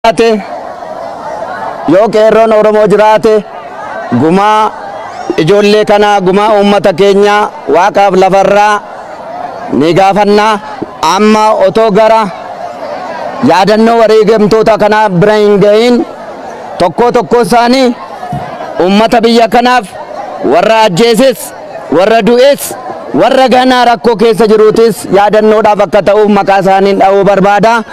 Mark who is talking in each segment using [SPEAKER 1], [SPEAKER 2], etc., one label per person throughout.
[SPEAKER 1] jiraate yoo qeerroon Oromoo jiraate gumaa ijoollee kanaa gumaa uummata keenyaa waaqaaf lafarraa ni gaafanna amma otoo gara yaadannoo wareegamtoota kanaa bira hin gahin tokkoo tokkoo isaanii uummata biyya kanaaf warra ajjeeses warra du'es warra ganaa rakkoo keessa jiruutis yaadannoodhaaf akka ta'uuf maqaa isaaniin dha'uu barbaada.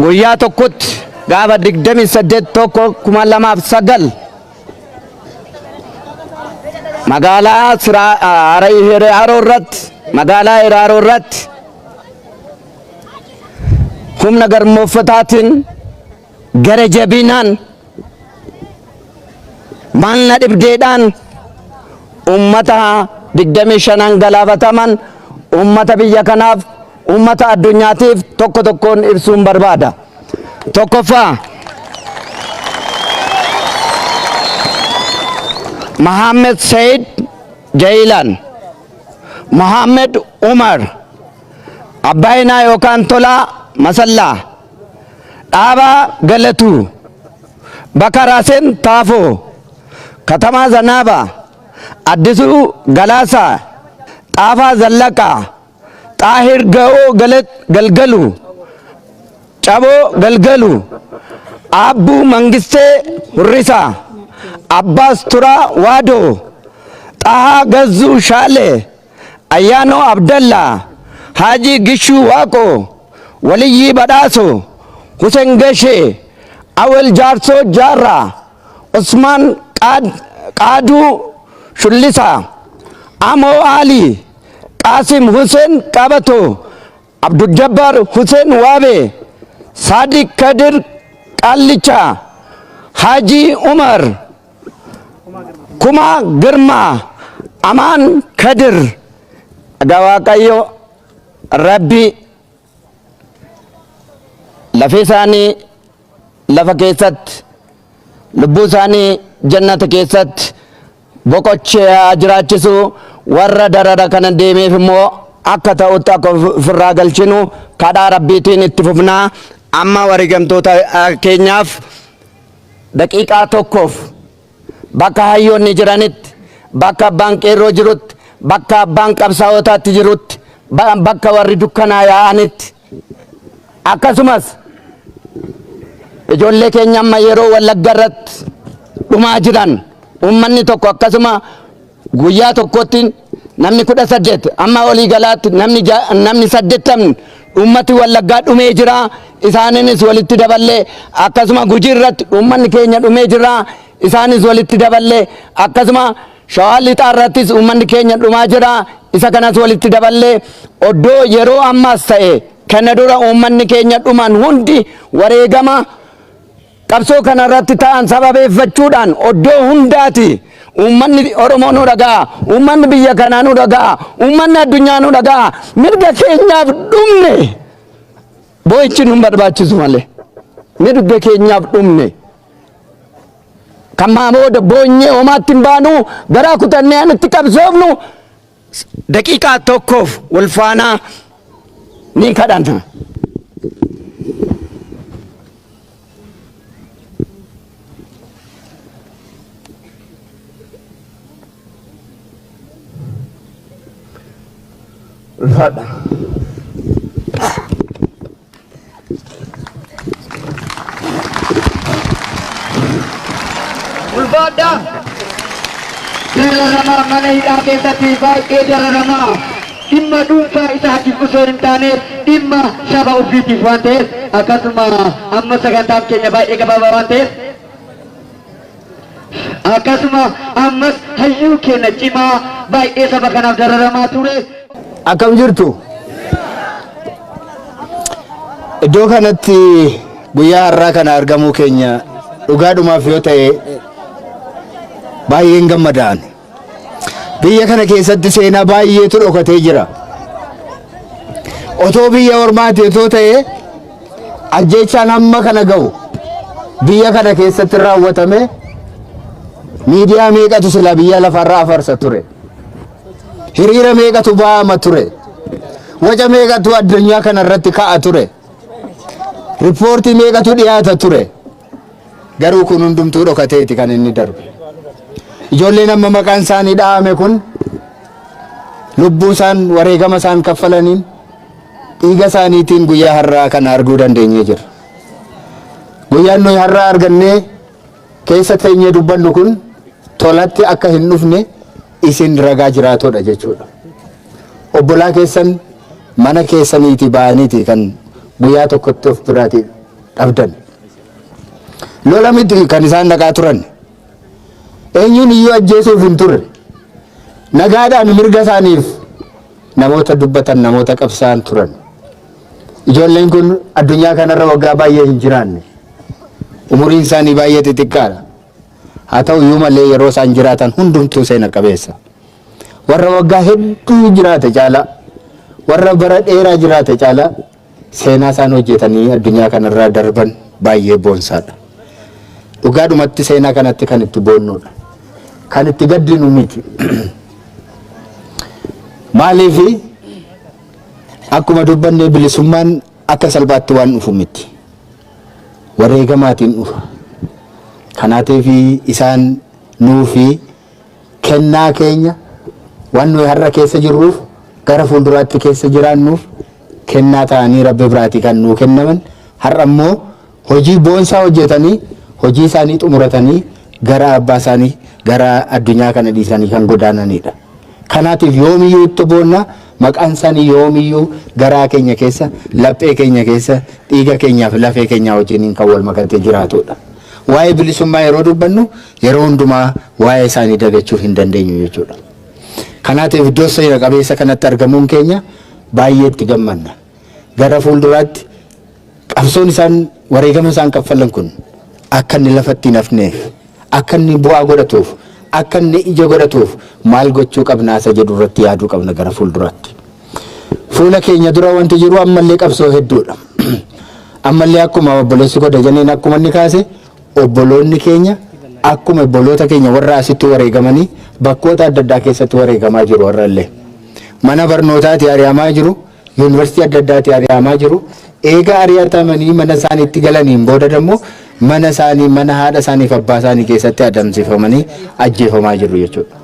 [SPEAKER 1] guyyaa tokkotti gaafa 28 tokko 2009 magaalaa Hiraaroo irratti magaalaa Hiraaroo irratti humna garmooffataatiin Gara jabinaan, maal na dhibdeedhaan ummata 25n galaafataman ummata biyya kanaaf, ummata addunyaatiif tokko tokkoon ibsuun barbaada. Tokkoffaa, Mohammed Said Jailan, Mohammed Umar, Abbaayinaa yookaan Tolaa Masallaa, Dhaabaa Galatuu, Baka Rasen Tafo, Katamaa Zanaba, Addisuu Galaasaa, Xaafaa Zallaqaa, Xaahir Ga'oo Galgalu, Caboo Galgalu, Aabbuu Mangistee Hurrisaa, Abbaas Turaa Waadoo, Xahaa Gazzuu Shaalee, Ayyaanoo Abdallaa, Haajii Gishuu Waaqoo, Waliyyii Badhaasoo, Husen Gashee, Awel Jaarsoo Jaarraa, Usmaan Qaaduu Shullisaa, Amoo Aalii, Qaasim Huseen Qabatoo, Abduljabbaar Huseen Waabee, Saadiq Kadir Qaallichaa, Haajii Umar, Kumaa Girmaa, Amaan Kadir. Egaa Waaqayyo Rabbi lafee isaanii lafa keessatti lubbuu isaanii jannata keessatti boqocheeyaa jiraachisu warra darara kana deemeef immoo akka ta'utti akka ofirraa galchinu kadhaa rabbiitiin itti fufnaa amma wareegamtoota keenyaaf daqiiqaa tokkoof bakka hayyoonni jiranitti bakka abbaan qeerroo jirutti bakka abbaan qabsaa'otaatti jirutti bakka warri dukkanaa yaa'anitti Akkasumas ijoollee keenya amma yeroo wallagga irratti dhumaa jiran uummanni tokko akkasuma guyyaa tokkotti namni kudha saddeet amma olii galaatti namni ja- namni saddeettamni uummati wallaggaa dhumee jira isaaniinis walitti daballee akkasuma gujii irratti uummanni keenya dhumee jira isaanis walitti daballee akkasuma Shawaa Lixaa irrattis uummanni keenya dhumaa jira. Isa kanas walitti daballee oddoo yeroo ammaas ta'e kana dura uummanni keenya dhuman hundi wareegama qabsoo kana irratti ta'an sababeeffachuudhaan oddoo hundaati uummanni Oromoo nu dhaga'a, uummanni biyya kanaa nu dhaga'a, uummanni addunyaa nu dhaga'a, mirga keenyaaf dhumne boo'ichi nu hin barbaachisu malee mirga keenyaaf dhumne. Kan maa booda boonyee homaatti hin baanu garaa kutannee an itti qabsoofnu daqiiqaa tokkoof wal faanaa ni kadhanna. Ulfaadha.
[SPEAKER 2] Ulfaadha! Dararamaa mana hidhaa keessatti baay'ee dararamaa dhimma dhuunfaa isaatiif osoo hin taane dhimma saba ofiitiif waan ta'eef akkasuma amma sagantaan keenya baay'ee gabaabaa waan ta'eef Akkasuma ammas hayyuu keenya cimaa baay'ee saba kanaaf dararamaa ture. Akkam jirtu?
[SPEAKER 1] Iddoo kanatti guyyaa har'aa kana argamuu keenya dhugaadhumaaf yoo ta'e baay'een gammadaan. Biyya kana keessatti seenaa baay'eetu dhokatee jira. Otoo biyya ormaati otoo ta'ee ajjeechaan hamma kana ga'u biyya kana keessatti raawwatame miidiyaa meeqatu silaa biyya lafarraa afarsa ture. Hiriira meeqatu ba'ama ture. Waca meeqatu addunyaa kana irratti ka'a ture. Riippoortii meeqatu dhiyaata ture. Garuu kun hundumtuu dhokateeti kan inni darbe. Ijoolleen amma maqaan isaanii dha'ame kun lubbuu isaan wareegama isaan kaffalaniin dhiiga isaaniitiin guyyaa har'aa kana arguu dandeenyee jirra. Guyyaan nuyi har'aa argannee keessa teenyee dubbannu kun tolatti akka hin dhufne isin ragaa jiraatodha jechuudha. Obbolaa keessan mana keessaniiti ba'aniiti kan guyyaa tokkotti of biraatii dhabdan. Lola miti kan isaan dhaqaa turan. Eenyuun iyyuu ajjeesuuf hin turre. Nagaadhaan mirga isaaniif namoota dubbatan namoota qabsaan turan. Ijoolleen kun addunyaa kanarra waggaa baay'ee hin jiraanne. Umuriin isaanii baay'ee xixiqqaadha. Haa ta'u iyyuu malee yeroo isaan jiraatan hundumtuu seena qabeessa. Warra waggaa hedduu jiraate caalaa warra bara dheeraa jiraate caalaa Seenaa isaan hojjetanii addunyaa kanarraa darban baay'ee boonsaadha. Dhugaadhumatti seenaa kanatti kan itti boonnuudha. Kan itti gaddinu miti. Maaliif akkuma dubbanne bilisummaan akka salphaatti waan dhufu miti. Wareegamaatiin dhufa. Kanaatiif isaan nuufi Kennaa keenya, waan nuyi har'a keessa jirruuf, gara fuulduraatti keessa jiraannuuf kennaa ta'anii Rabbi biraatii kan nuu kennaman, har'a immoo hojii boonsaa hojjetanii, hojii isaanii xumuratanii gara abbaa isaanii, gara addunyaa kana dhiisanii kan godaananiidha. Kanaatiif yoomiyyuu itti boonna, maqaan isaanii yoomiyyuu garaa keenya keessa, laphee keenya keessa, dhiiga keenyaa fi lafee keenyaa wajjiniin kan wal makatee jiraatuudha. Waa'ee bilisummaa yeroo dubbannu, yeroo hundumaa waa'ee isaanii dagachuu hin dandeenyu jechuudha. Kanaatiif iddoo seera qabeessa kanatti argamuun keenya baay'ee itti gammanna. Gara fuulduraatti qabsoon isaan wareegama isaan kaffalan kun akka inni lafatti hin hafneef, akka inni bu'aa godhatuuf, akka inni ija godhatuuf maal gochuu qabna isa jedhu irratti yaaduu qabna gara fuulduraatti. Fuula keenya dura wanti jiru ammallee qabsoo hedduudha. Ammallee akkuma obboleessi godha jenneen akkuma inni kaase Obboloonni keenya akkuma obboloota keenya warra asitti wareegamanii bakkoota adda addaa keessatti wareegamaa jiru har'allee. Mana barnootaatii ari'amaa jiru, Yuunivarsiitii adda addaatii ari'amaa jiru. Eega ari'atamanii mana isaaniitti galaniin booda immoo mana isaanii, mana haadha isaanii fi abbaa isaanii keessatti adamsifamanii ajjeefamaa jiru jechuudha.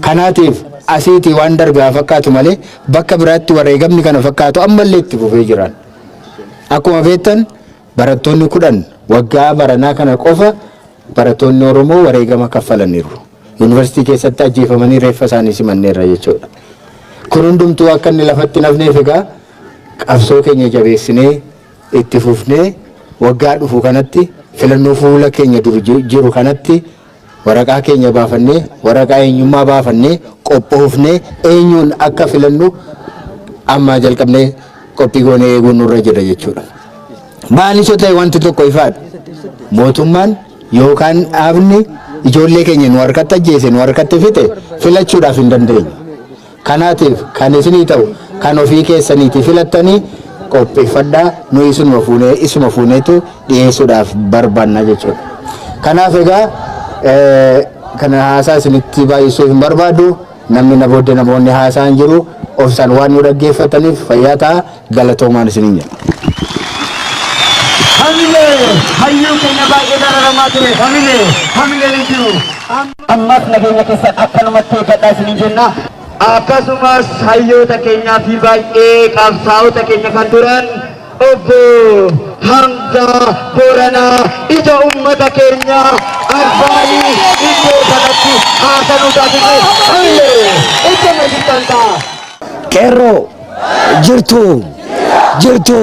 [SPEAKER 1] Kanaatiif asiitii waan darbe haa fakkaatu malee bakka biraatti wareegamni kana fakkaatu ammallee itti fufee jiraan. Akkuma beektan Barattoonni 10 waggaa baranaa kana qofa barattoonni Oromoo wareegama kaffalaniiru. Yuunivarsiitii keessatti ajjeefamanii reeffa isaanii simanneerra jechuudha. Kun hundumtuu akka inni lafatti hin hafneef egaa qabsoo keenya jabeessinee itti fufnee waggaa dhufu kanatti filannoo fuula keenya dura jiru kanatti Waraqaa keenya baafannee, waraqaa eenyummaa baafannee, qophoofnee eenyuun akka filannu ammaa jalqabnee qophii goonee eeguun nurra jira jechuudha. Maanis yoo ta'e wanti tokko ifaadha. Mootummaan yookaan dhaabni ijoollee keenya nu harkatti ajjeese, nu harkatti fixe filachuudhaaf hin dandeenyu. Kanaatiif kan isinii ta'u kan ofii keessaniitii filattanii qopheeffadhaa, nuyi isinuma fuunee, isuma fuuneetu dhiyeessuudhaaf barbaanna jechuudha. Kanaaf egaa kana haasaa isinitti baay'isuu hin barbaadu, namni na booddee namoonni haasa'an jiru, obsaan waan nu dhaggeeffattaniif fayyaa ta'aa, Galatoomaan isiniin jenna. Hamilee!
[SPEAKER 2] Hayyuu keenya baay'ee dararamaa ture. Hamilee! Hamileen hin jiru. Ammas nageenya keessan akkanumatti eeggadhaa isiniin jenna. Akkasumas hayyoota keenyaa fi baay'ee qabsaa'ota keenya kan turan obbo Hamzaa Booranaa ija uummata keenya arfaanii iddoo kanatti haasanuu taasise. Hamilee! Iddoo meeshitan ta'a. Qeerroo
[SPEAKER 3] jirtu jirtu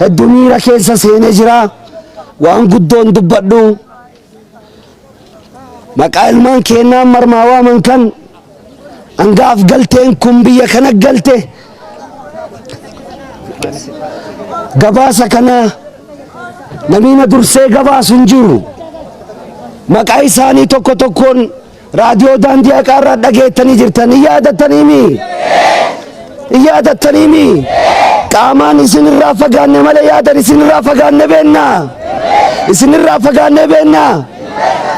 [SPEAKER 3] heddu miira keessa seene jira waan guddoon dubbadhu maqaa ilmaan keennaan marmaa waaman kan hangaaf galteen kun biyya kana galte gabaasa kana namiina dursee gabaasu hin jiru maqaa isaanii tokko tokkoon Raadiyoo daandii haqaa irraa dhageettanii jirtan hin yaadattaniimi? Hin yaadattaniimi? Qaamaan isin irraa fagaanne malee yaadan isin irraa fagaanne beenna. Isin irraa fagaanne beenna.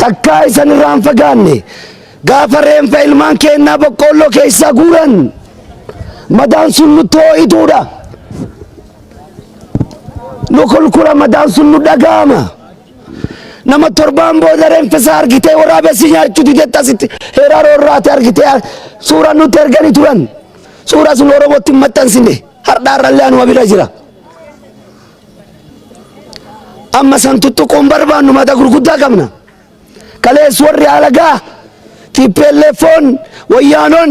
[SPEAKER 3] Takkaa isin irraa hin fagaanne. Gaafa reenfa ilmaan keennaa boqqoolloo keessaa guuran madaan sun nutti hoo'ituudha. Nu kulkula madaan sun nu dhaga'ama. nama torbaan booda reenfisaa argitee waraabessi nyaachuu didetti asitti heeraa roorraate argitee suuraa nutti erganii turan suuraa sun oromootti hin maxxansine hardhaa irrallee anuma bira jira. Amma san tuttuquun barbaannu mata gurguddaa qabna. Kalees warri alagaa tiippeelleeffoon wayyaanoon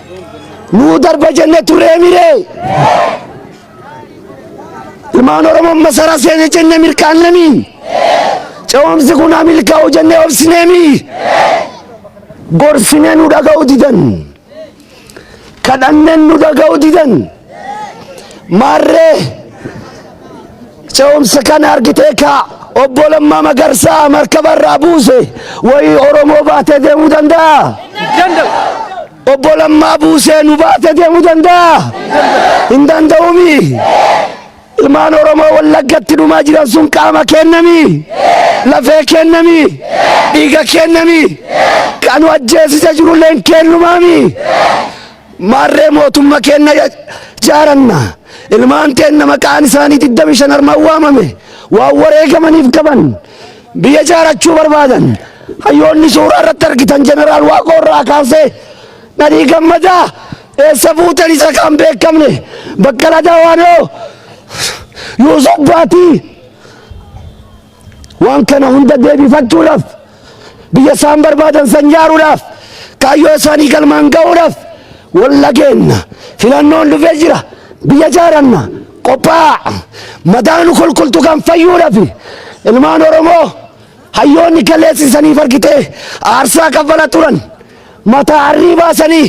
[SPEAKER 3] nuu darba jenne turree miree ilmaan oromoon masara seene jenne mirkaannemi ce'umsi kun haa milkaa'u jenne obsineemi gorsinee nu dhaga'u didan kadhanneen nu dhaga'u didan Maarree ce'umsa kana argitee kaa obbo Lammaa Magarsaa markaba irraa buuse wayii Oromoo baatee deemuu danda'a? Obbo Lammaa buusee nu baatee deemuu danda'a? Hin danda'uumi. Ilmaan Oromoo Wallaggatti dhumaa jiran sun qaama kennami, lafee kennami, dhiiga kennami, kanu ajjeesisa jirulleen kennumaami. Maarree mootumma keenna jaaranna. Ilmaan teenna maqaan isaanii 25 armaan waamame waan wareegamaniif qaban biyya jaarachuu barbaadan. Hayyoonni suuraa irratti argitan Jeneraal Waaqoo irraa kaasee Nadhii Gammadaa eessa fuutan isa kan beekamne Baqqala Dawaanoo Yuusuf Baatii Waan kana hunda deebifachuudhaaf biyya isaan barbaadan san jaaruudhaaf kaayyoo isaanii galmaan ga'uudhaaf walla keenna filannoon dhufee jira biyya jaaranna qophaa'aa madaanu kulkultu kan fayyuudhaaf ilmaan Oromoo hayyoonni kaleessisaniif argitee aarsaa kaffala turan. mataa harrii baasanii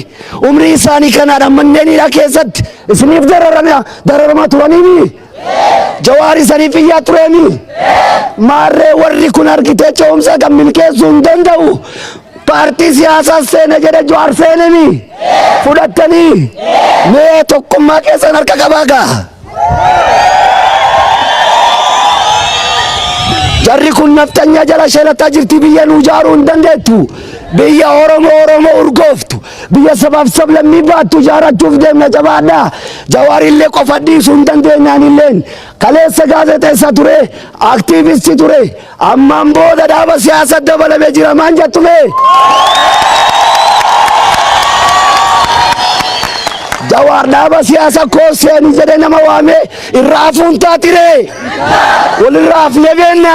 [SPEAKER 3] umrii isaanii kanaadhaan manneen hidhaa keessatti isiniif dararama dararamaa turaniimi jawaar isaniif iyyaa tureemi maarree warri kun argitee ce'umsa kan milkeessuu hin danda'u paartii siyaasaa seena jedhe jawaar seenemi fudhattanii mee tokkummaa keessan harka qabaa gaa jarri kun nafxanyaa jala shelataa jirti biyya nuu jaaruu hin dandeettu biyya oromoo oromoo urgooftu biyya sabaaf sablammii baattu jaarachuuf deemna jabaadhaa jawaarillee qofa dhiisuu hin dandeenyaanilleen kaleessa gaazexeessa ture aktiivisti ture Ammaan booda dhaaba siyaasa dabalame jira maan jattu mee? Jawaar dhaaba siyaasa koo seeni jedhe nama waame irra hafuun taatiree walirra hafne beenna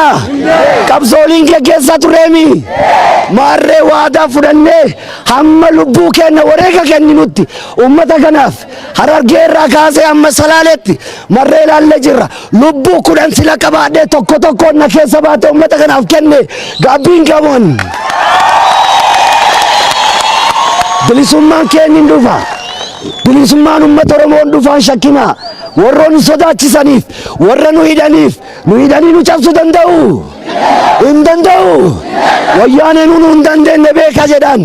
[SPEAKER 3] qabsooliin geggeessaa tureemi maarree waadaa fudhannee hamma lubbuu keenna wareega kenninutti uummata kanaaf harargee irraa kaasee amma salaaleetti marree ilaallee jirra Lubbuu kudhan sila qabaadhee tokko tokkoon na keessa baate uummata kanaaf kenne gaabbiin qabuun. Bilisummaan keenya hin dhufa. Bilisummaan uummata Oromoo hin dhufaan shakkina. Warra nu sodaachisaniif, warra nu hidhaniif, nu hidhanii nu cabsuu danda'u. Hin danda'u. Wayyaaneen nu hin dandeenye beeka jedhan.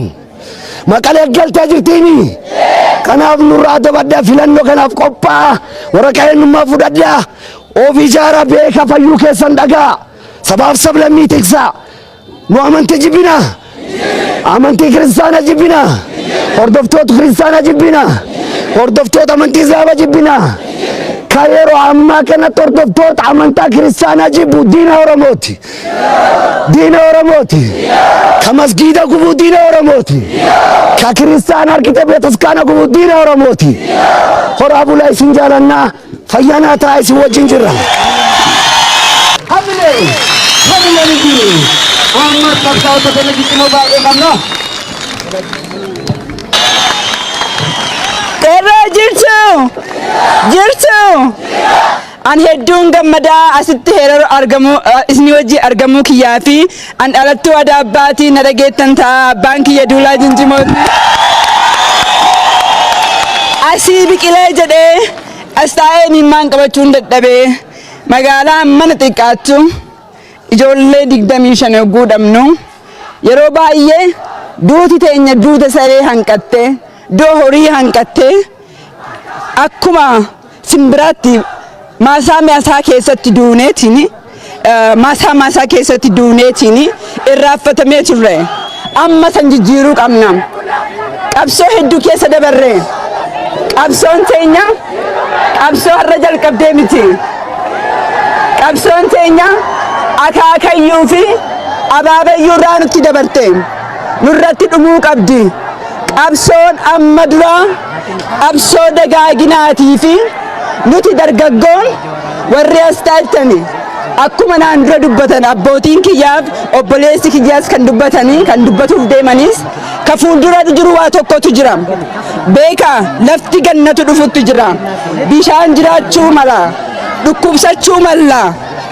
[SPEAKER 3] Maqalee galtee jirtiimi. Kanaaf nurraa adda baddaa filannoo kanaaf qophaa'aa waraqaa eenyummaa fudhadhaa of ijaaraa beekaa fayyuu keessan dhagaa sabaaf sablammii tiksaa nu amantii jibbina amantii kiristaana jibbina hordoftoota kiristaana jibbina hordoftoota amantii islaama jibbina ka yeroo ammaa kanatti hordoftoota amantaa kiristaanaa jibbu diina oromooti. diina oromooti ka masgiida gubu diina oromooti ka kiristaan harkite betaskaana gubu diina oromooti horaa bulaa isin jaalannaa fayyanaa taa isin wajjin jirra Hamile, hamile
[SPEAKER 2] ni jiru. Amma qabsaa'ota kana jijjiirama baay'ee qabna.
[SPEAKER 4] Qeerroo jirtu! Jirtu! An hedduun gammadaa asitti heeraru argamuu isni wajji argamuu kiyyaa fi an dhalattuu ada abbaati na dhageettan ta'a abbaan kiyya duulaa jinjimooti. Asii biqilee jedhee as taa'ee miimmaan qabachuun dadhabee magaalaa mana xiqqaattu ijoollee digdamii shan yogguu dhabnu yeroo baay'ee duuti teenya duuta saree hanqattee doo horii hanqattee akkuma Simbiraatti maasaa maasaa keessatti duuneetiin maasaa maasaa keessatti duuneetiin irraaffatamee turre. Amma san jijjiiruu qabna. Qabsoo hedduu keessa dabarre. Qabsoon teenya qabsoo har'a jalqabdee miti. Qabsoon teenya akaakayyuu fi abaabayyuu irraa nutti dabarte. Nurratti dhumuu qabdi. Qabsoon amma duraa. Qabsoo dagaaginaatii fi nuti dargaggoon warri as taa'ettani akkuma naan dura dubbatan abbootiin kiyyaaf obboleessi kiyyaas kan dubbatanii kan dubbatuuf deemanis ka fuuldura jiru waa tokkotu jira beeka lafti gannatu dhufutti jira bishaan jiraachuu mala dhukkubsachuu malla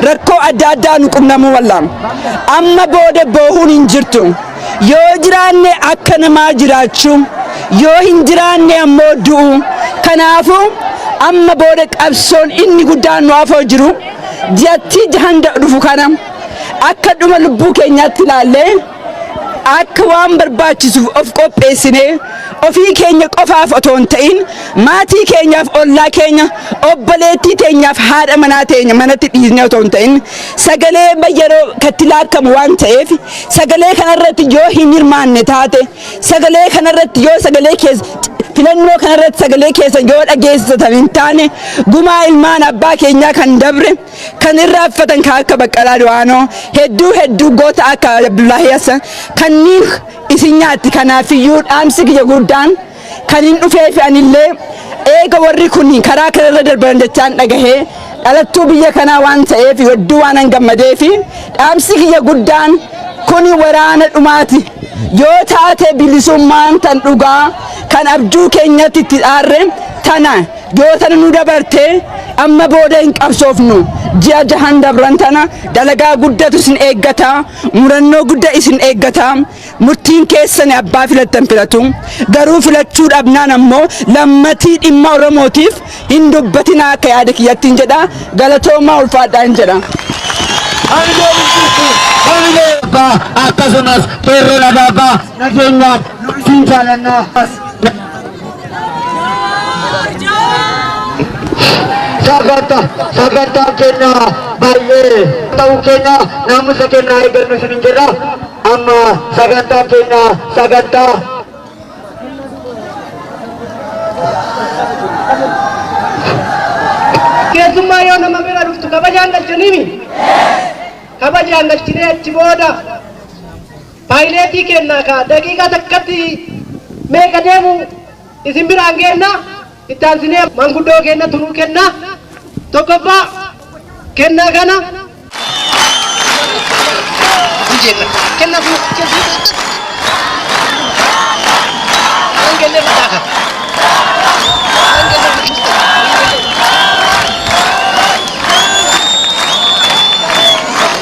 [SPEAKER 4] rakkoo adda addaa nu qunnamuu malla amma booda boohuun hin jirtu. Yoo jiraanne akka namaa jiraachuu, yoo hin jiraanne ammoo du'uu. Kanaafuu amma booda qabsoon inni guddaan nu afoo jiru ji'attii jahan dhufu kana akka dhuma lubbuu keenyaatti ilaallee akka waan barbaachisuuf of qopheessinee ofii keenya qofaaf otoo hin ta'in maatii keenyaaf ollaa keenya obboleettii teenyaaf haadha manaa teenya manatti dhiisnee otoo hin ta'in sagalee yeroo katti laakkamu waan ta'eef sagalee kanarratti yoo hin hirmaanne taate sagalee kanarratti yoo sagalee keessa filannoo kanarratti sagalee keessa yoo dhageessisatan hin taane gumaa ilmaan abbaa keenyaa kan dabre kan irraa uffatan kan akka baqqalaa du'aanoo hedduu hedduu goota akka abdullahi hassan kanniin isin nyaatti kanaafiyyuu dhaamsi kiyya guddaan Kanin dhufeefi anillee eega warri kun karaa kanarra darban jechaan dhagahe dhalattuu biyya kanaa waan ta'eef hedduu waanan gammadeefi dhaamsi kiyya guddaan kuni waraana dhumaati yoo taate bilisummaan tan dhugaa kan abjuu keenyatti itti dhaarre tana yoo tana nu dabarte amma booda hin qabsoofnu ji'a jahan dabran tana dalagaa guddatu isin eeggata murannoo gudda isin eeggata Murtiin keessan abbaa filattan filatu. Garuu filachuu dhabnaan ammoo lammatii dhimma Oromootiif hin dubbatinaa akka yaada kiyyattiin jedha. Galatoomaa ulfaadhaa hin jedha. abbaa
[SPEAKER 2] akkasumas qeerroon abaabaa nageenyaaf siin jaalannaa. sagantaa sagantaa keenya baay'ee ta'uu keenya naamusa keenya eeggannu isin hin jirra amma sagantaa keenya sagantaa
[SPEAKER 5] keessummaa yoo nama bira dhuftu kabajaan galchaniimi kabajaan galchinee achi booda Paayileetii keennaa ka daqiiqaa takkatti meeqa deemu isin biraan geenna. Itti aansinee manguddoo keennatu nuu kenna. Tokkoffaa kennaa kana.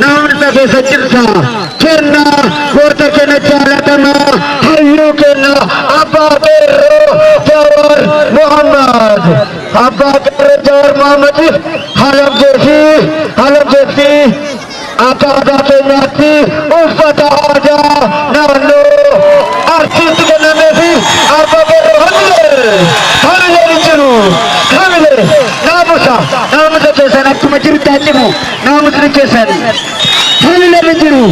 [SPEAKER 2] Dhaamsa keessa jirta kenna goota keenya jaalatamaa hayyuu keenya abbaa qeerroo Jawaar Muhammad abbaa qeerroo Jawaar Muhammadiif halabdee fi halabdeettii akka aadaa keenyaatti uffata aadaa naannoo arsiitti kennamee fi abbaa qeerroo hamilee hamilee ni jiru hamilee naamusa naamusa keessan akkuma jirtan cimu naamusni keessan tuni nama jiru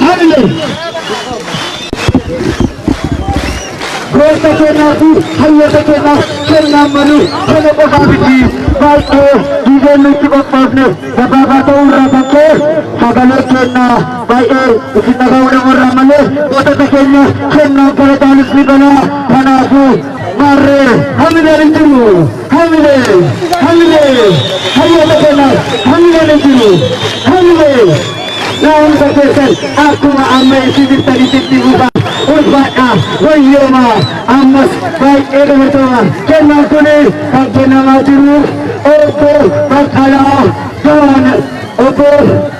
[SPEAKER 2] hamle goota kennaa fi hayyoota kennaa kennaan malu kana qofaa miti baay'ee diigeen nutti qophoofne gabaabaa ta'uu irraa kan ka'e sagalee kennaa baay'ee isin dhaga'uu nama irraa malee gootota keenya kennaan kana taanis ni banaa kanaafuu maarree hamle hin jiru. Hamile, hamile, hayyoota keenyaaf hamileen hin jiru. Hamile, naa'umsa keessan akkuma amma itti jirtanitti itti fufa. Ulfaadha, wayyooma, ammas baay'ee galatoomaa. Kennaan kun kan kennamaa jiru obbo Baqqalaa Gawaan obbo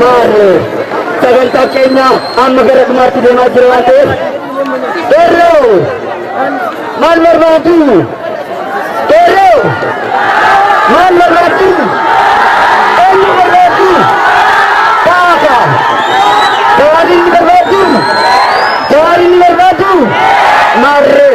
[SPEAKER 2] Maarree sagantaa keenya amma gara dhumaatti deemaa jira waan ta'eef Qeerroo maal barbaaddu? Qeerroo maal barbaaddu? Eenyu barbaaddu? Kaafa jawaariin ni barbaaddu? Jawaariin ni barbaaddu? Maarree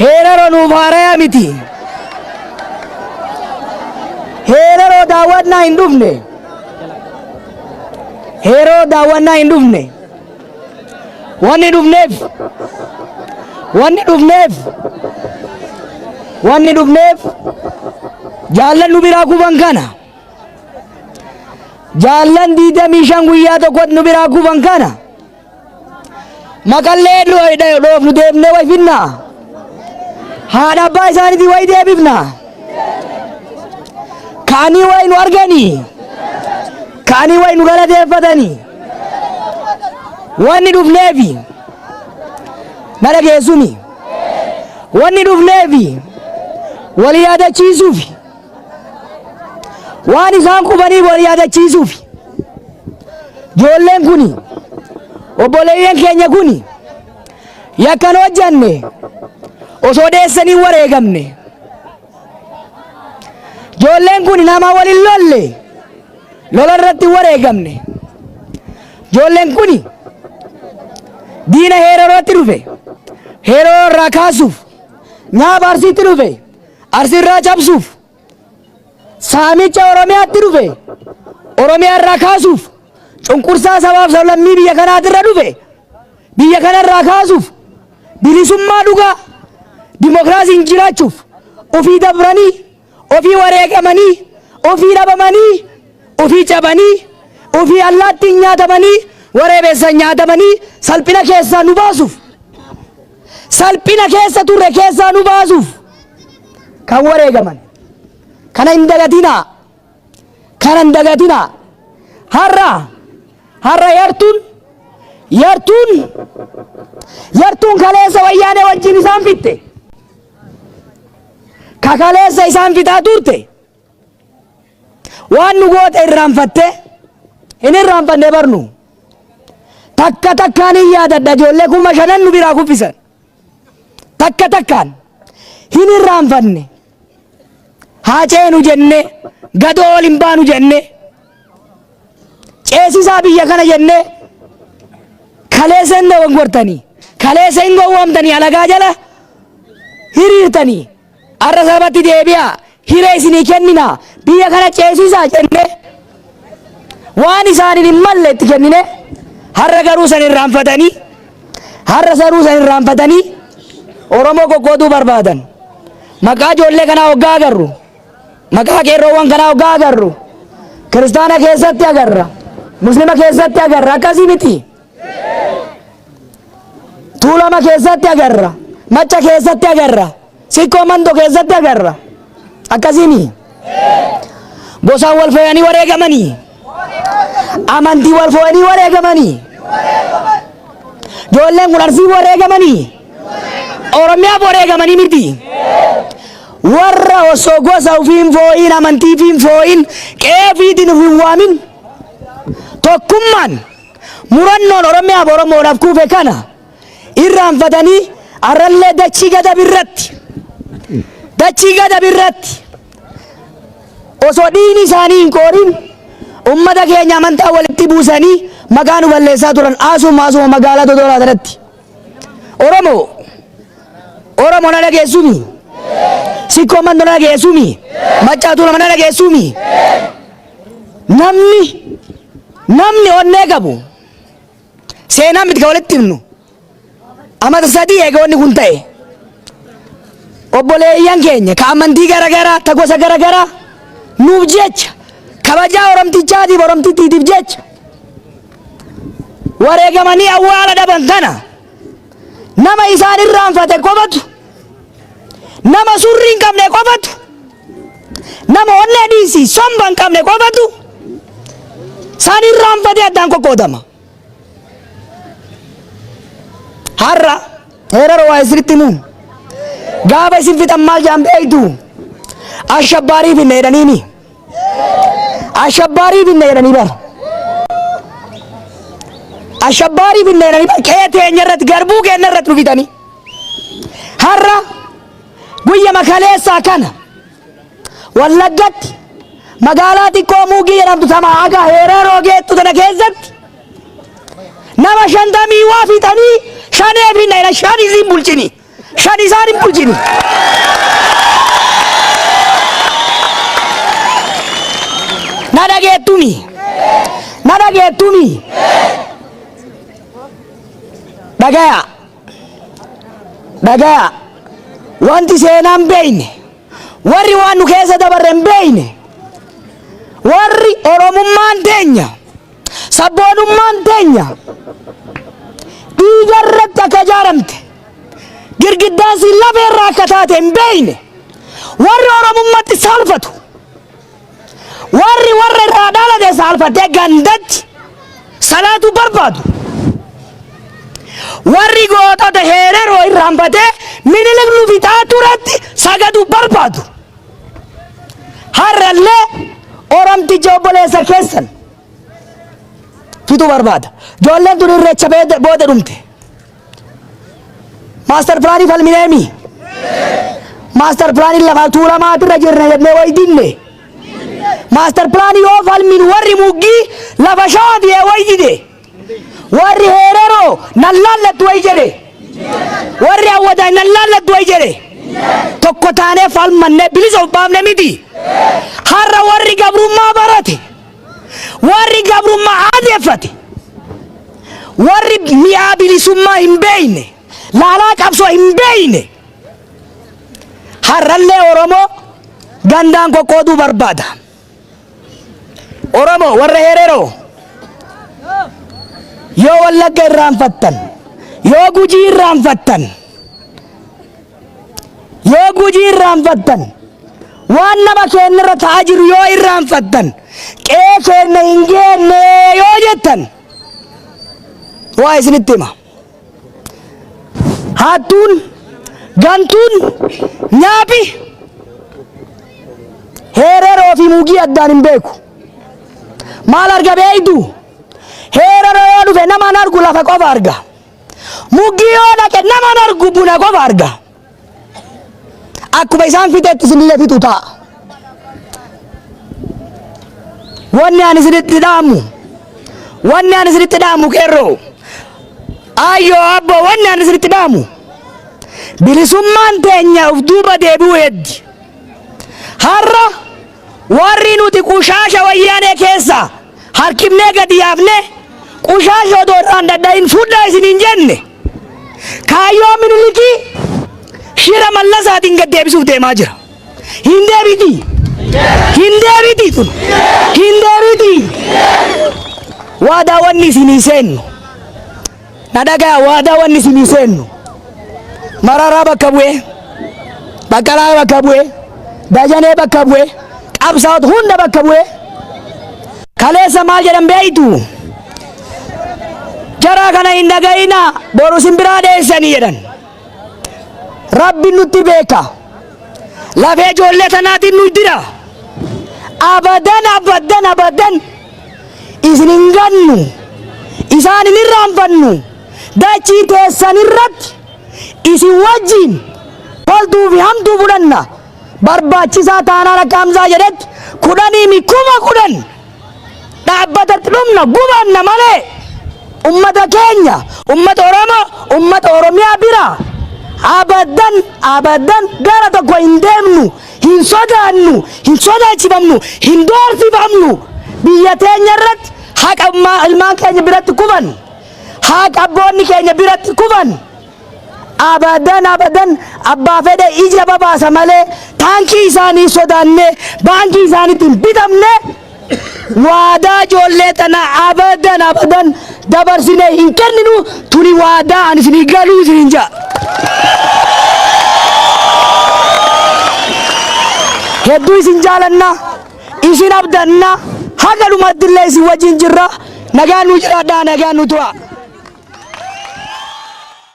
[SPEAKER 2] Heeraroo nuuf haaraya miti. Heeraroo daawwannaa hin dhufne. Heeroo daawwannaa hin dhufne. Wanni dhufneef wanni dhufneef wanni dhufneef jaallan nu biraa kuban kana. Jaallan 25 guyyaa tokkotti nu biraa kuban kana. Makallee dhoofnu deemnee way finna. Haadha abbaa isaaniitii way deebifna. Kaanii way nu arganii. Kaanii way nu galateeffatanii. Wanni dhufneefi na dhageessumi. Wanni dhufneefi walii yaadachiisuufi. Waan isaan qubanii wal yaadachiisuufi. Ijoolleen kuni obboleeyyan keenya kuni yakkan hojjanne osoo dheessanii wareegamne. Ijoolleen kuni nama wal hin lolle lola irratti wareegamne. Ijoolleen kuni diina heeroo irratti dhufe heeroo irraa kaasuuf nyaaba arsiitti dhufe. Arsiirraa cabsuuf saamicha Oromiyaatti dhufe Oromiyaarraa kaasuuf cunqursaa sabaaf sablammii biyya kanaatirra dhufe biyya kanarraa kaasuuf bilisummaa dhugaa dimokiraasiin jiraachuuf ofii dabranii ofii wareegamanii ofii dhabamanii ofii cabanii ofii allaattiin nyaatamanii wareebeessan nyaatamanii salphina keessaa nu baasuuf salphina keessa turre keessaa nu baasuuf kan wareegaman kana hin dagatinaa kana hin dagatinaa har'a har'a yartuun yartuun yartuun kaleessa wayyaanee wajjin isaan fitte ka kaleessa isaan fitaa turte Waan nu goote irraanfattee hin irraanfanne barnu. Takka takkaan hin yaadadha ijoollee kuma shanan nu biraa kuffisan. Takka takkaan hin irraanfanne. Haa ceenu jennee gadoo ol hin baanu jennee ceesisaa biyya kana jennee kaleessa hin dogongortanii kaleessa hin gowwoomtanii alagaa jala hiriirtanii. Arra sabatti deebi'a, hiree isinii kennina, biyya kana ceesiisaa jennee waan isaanin hin malle itti kennine, harra garuu san irraanfatanii, harra saruu san irraanfatanii
[SPEAKER 3] Oromoo qoqqooduu barbaadan. Maqaa ijoollee kanaa hoggaa agarru, maqaa qeerroowwan kanaa hoggaa agarru, kiristaana keessatti agarra, muslima keessatti agarra, akkasii miti. Tuulama keessatti agarra. Macca keessatti agarra. Sikkoo mando keessatti agarra. Akkasiimi. Gosaan wal fooyanii wareegamanii. Amantii wal fooyanii wareegamanii. Ijoolleen kun arsii wareegamanii. Oromiyaaf wareegamanii miti. Warra osoo gosa ofii hin fooyin amantii fi hin fooyin qe'ee ofiitiin of hin waamin tokkummaan murannoon Oromiyaaf Oromoodhaaf kuufe kana irraanfatanii arrallee dachii gadab irratti dachii gadab irratti osoo dhiigni isaanii hin qoorin ummata keenya amantaa walitti buusanii maqaa nu balleessaa turan haasuma haasuma magaalaa Dodolaa irratti Oromoo Oromoo na dhageessumi sikkoo mandoo na dhageessumi maccaatu nama na dhageessumi Namni namni onnee qabu seenaa miti kan walitti himnu amata sadii eega wanni kun ta'e obboleeyyan keenya ka amantii garagaraa ta gosa garagaraa nuuf jecha kabajaa oromtichaatiif oromtittiitiif jecha wareegamanii awwaala dhaban kana nama isaan irraanfate qofatu nama surrii hin qabne qofatu Nama onnee dhiisii somba hin qabne qofatu saan irraanfatee addaan qoqqoodama. Har'a heerara waa isinitti himu. Gaafa isin fixan maal jaan beektu? Ashabbaarii finna jedhaniini. Ashabbaarii finna jedhanii bara. Ashabbaarii finna jedhanii bara. Qe'ee teenya irratti garbuu keenya irratti nu fixanii. Har'a Guyyama kaleessaa kana Wallaggatti magaalaa xiqqoo Muugii jedhamtu tama haga Heeraroo geettu tana keessatti nama shantamii waa fixanii shanee fi nayla shan isiin bulchini shan isaan hin bulchini. Na dhageettumi na dhageettumi dhagaya. Dhagayaa! Wanti seenaa hin beekne, warri waan nu keessa dabarre hin beekne, warri Oromummaan teenya, sabboonummaan teenya dhiiga irratti akka ijaaramte, girgiddaan siin lafee irraa akka taate hin beekne, warri Oromummatti saalfatu, Warri warra irraa dhalate saalfatee gandatti salaatuu barbaadu. Warri gootota heereroo irraanfatee minilik nu bitaa turetti sagaduu barbaadu. Har'allee Oromtichi obboleessa keessan fituu barbaada. Ijoolleen tun irreecha booda dhumte. Maastar pilaanii falmineemi. Maastar pilaanii lafa tuulamaatirra jirna jennee wayidinne. Maastar pilaanii yoo falmin warri muggii lafa shawaati ee wayidide. Warri heereroo nan laallattu wayi jedhe. Warri hawwataa nan laallattu wayi jedhe. Tokko taanee falmannee bilisa of baafne miti. Har'a warri gabrummaa barate. Warri gabrummaa aadeeffate, warri mi'aa bilisummaa hin beekne, laalaa qabsoo hin beekne har'allee Oromoo gandaan qoqqooduu barbaada. Oromoo warra hereroo yoo wallagga irraanfattan, yoo gujii irraanfattan, Yoo Gujii irraanfattan, waan nama keenya irra ta'aa jiru yoo irraanfattan, qe'ee keenya hin geenne yoo jettan, waa isinitti hima. Hattuun, gantuun, nyaapi, heereroo fi mugii addaan hin beeku. Maal arga beeytu? Heereroo yoo dhufe nama hin argu lafa qofa arga. Muggii yoo dhaqe naman argu buna qofa arga. Akkuma isaan fixetti isinillee fixu ta'a. Wanni ani isinitti dhaamu, wanni ani isinitti dhaamu qeerroo, ayyoo abboo wanni ani isinitti dhaamu, bilisummaan teenya of duuba deebi'uu heddi. Har'a Warri nuti qushaasha wayyaanee keessa harkifnee gadi yaafne qushaasha odoo irraa hin dhadhayin fudhaa isin hin jenne kaayyoo minilikii shira mallasaatiin gad deebisuuf deemaa jira. Hin deebiti. Hin deebiti tun. Hin deebiti. Waa daawwanni isinii seennu. Na dhagaya waadaa wanni isinii seennu. Mararaa bakka bu'ee, Baqqalaa bakka bu'ee, Dajanee bakka bu'ee, qabsaa'ota hunda bakka bu'ee. Kaleessa maal jedhan beektu? Jaraa kana hin dhagayina boru isin biraa dheessanii jedhan. Rabbi nutti beeka. Lafee ijoollee tanaatiin nu dira. Abadan abadan abadan. isin hin gannu, isaan hin irraanfannu, dachii teessan irratti isin wajjin toltuu fi hamtuu fudhanna, barbaachisaa taanaan akka Hamzaa jedhetti kudhanii mi kuma kudhan dhaabbatatti dhumna gubanna malee ummata keenya ummata Oromoo ummata Oromiyaa bira abadan abadan gara tokko hin deemnu hin sodaannu, hin sodaachifamnu, hin doorsifamnu. Biyya teenya irratti haqa ilmaa- ilmaan keenya biratti kufan, haqa abboonni keenya biratti kufan. Abadan abadan abbaa fedhe ija babaasa malee taankii isaanii sodaannee baankii isaaniitti hin bitamne. waadaa ijoollee tana abadan abadan dabarsine hin kenninu tuni waadaa ani isinii galuu isiniin ja'a. Hedduu isin jaalanna isin abdanna haga dhumatti illee isin wajjin jirra nagaan nu jiraadhaa nagaan nu tura.